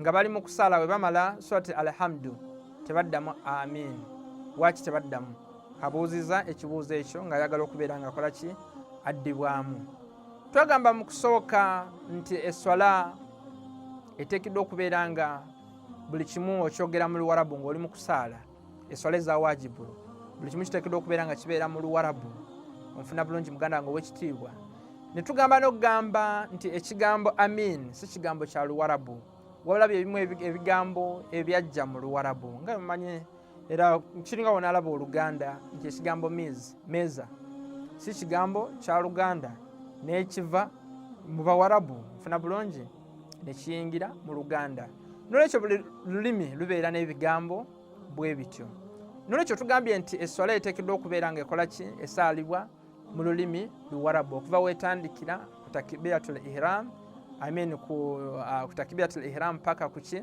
nga bali mu kusaala bwe bamala surati alhamdu tebaddamu amin waaki tebaddamu abuuziza ekibuuzo ekyo nga ayagala okubeera nga akola ki addibwamu twagamba mu kusooka nti eswala eteekeddwa okubeera nga buli kimu okyogera mu luwarabu ng'oli mu kusaala eswala eza wajibu buli kimu kiteekeddwa okubeera nga kibeera mu luwarabu onfuna bulungi muganda wange owekitiibwa ne tugamba n'okugamba nti ekigambo amin si kigambo kya luwarabu wabula byebimu ebigambo ebyajja mu luwarabu nga mumanye era kiringa wonaalaba oluganda nti ekigambo miz meza si kigambo kya luganda n'ekiva mu bawarabu nfuna bulungi ne kiyingira mu luganda nolwekyo buli lulimi lubeera n'ebigambo bwe bityo nolwekyo tugambye nti esswala eteekeddwa okubeera nga ekola ki esaalibwa mu lulimi luwarabu okuva wetandikira ku takibiyatul ihram amin ku uh, takibiyatul ihram paka kuki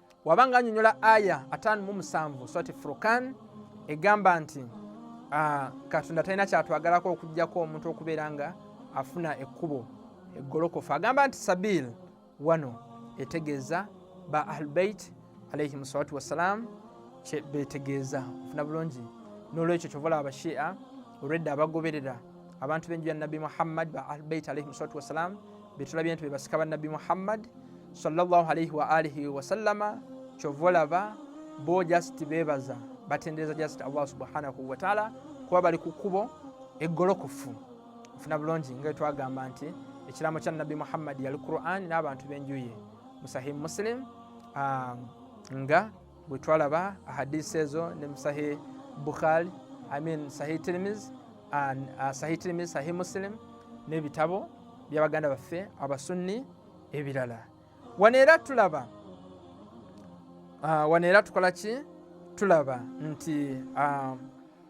waba nga anyonyola aya ataano mu musanvu swati furukan egamba nti ah, katonda talina kyatwagalako okujjako omuntu okubeera nga afuna ekkubo eggolokofu agamba nti sabil wano etegeeza ba ahlubeit alaihim salatu wassalam kyebetegeeza ofuna bulungi nolwekyo kyovala abashia olwedda abagoberera abantu benju ya nabbi muhammad ba ahlubeit alaihim salatu wassalam betulabye nti bebasika banabbi muhammad salllah alaihi waalihi wasallama kyova olaba bo just bebaza batendereza just allah subhanahu wataala kuba bali ku kkubo eggolokofu ofuna bulungi nga twagamba nti ekiraamo kya nabbi muhammadi yali quran n'abantu b'enjuye musahi muslim ah, nga bwe twalaba hadisi ezo ne musahi bukhari imean sahi tirimiz uh, sahi tirimiz sahi muslim n'ebitabo byabaganda baffe abasunni ebirala wano era tulaba uh, wano era tukola ki tulaba nti uh,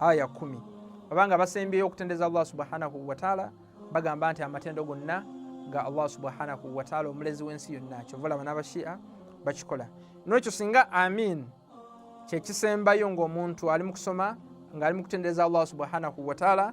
aya kumi abanga basembyeyo okutendeza allah subhanahu wataala bagamba nti amatendo gonna ga allah subhanahu wataala omulezi w'ensi yonna kyova olaba n'abashia bakikola nolwekyo singa amin kyekisembayo ngaomuntu ali mu kusoma ngaali mu kutendereza allah subhanahu wataala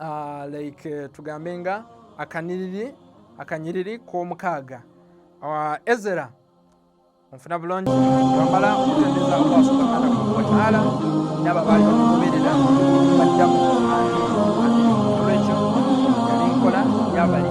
uh, like uh, tugambe nga akaniriri akanyiriri k'omukaaga uh, ezera onfuna bulungi twamala okutendeza allah subhanahu wataala naba baali bamugoberera bajjamu olwekyo yali nkola yabali